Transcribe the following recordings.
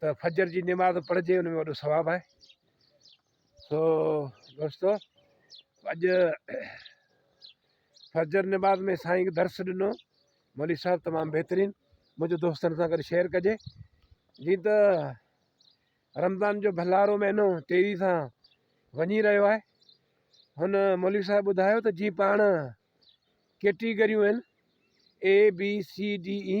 ته فجر جي نماز پڙهجي ان ۾ وڏو ثواب آهي سو دوستو اڄ فجر نماز ۾ سائين درس ڏنو مولوي صاحب تمام بهترين منهنجو دوستن سان گڏ شيئر ڪجي جي ته رمضان جو ڀلارو مهينو تيزي سان وڃي رهيو آهي هن مولوي صاحب ٻڌايو ته جي پاڻ ڪيٽيگريون آهن A B C D A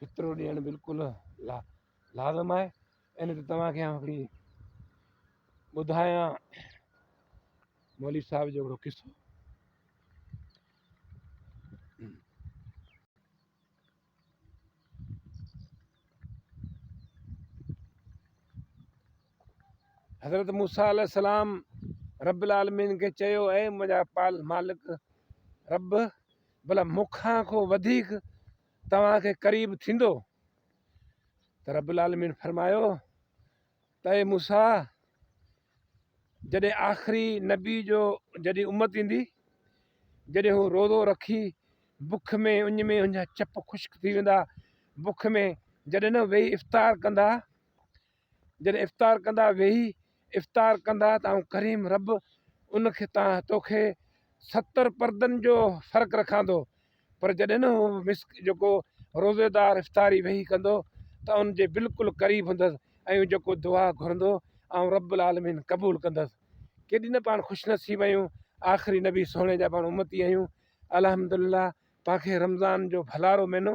فطرو ڏيڻ بلڪل لازم آهي ان تي توهان کي هڪڙي ٻڌايان مولوي صاحب جو هڪڙو قصو حضرت موسا علیہ السلام رب العالمين کي چيو اي منهنجا پال مالڪ رب بلا مون کان ڪو وڌيڪ توهان کي قريب ٿيندو؟ ته رب العالمين فرمايو ته اي موسيٰ! جڏهن آخري نبي جو جڏهن امت ايندي، جڏهن هو روزو رکي بک ۾ اڃ ۾ هنجا چپ خشڪ ٿي ويندا، بک ۾ جڏهن نه ويهي افطار ڪندا، جڏهن افطار ڪندا ويهي افطار ڪندا ته آئون ڪريم رب ان کي تان توکي ستر پردن جو فرق رکاندو پر جڏهن هو مس جيڪو روزيدار افطاري ويهي ڪندو ته ان جي بلڪل قريب هوندس ۽ جيڪو دعا گهرندو آئون رب العالمين قبول ڪندس ڪيڏي نه پاڻ خوش نصيب آهيون آخري نبي سهڻي جا پاڻ امتي آهيون الحمد لله پاڻ کي رمضان جو ڀلارو مهينو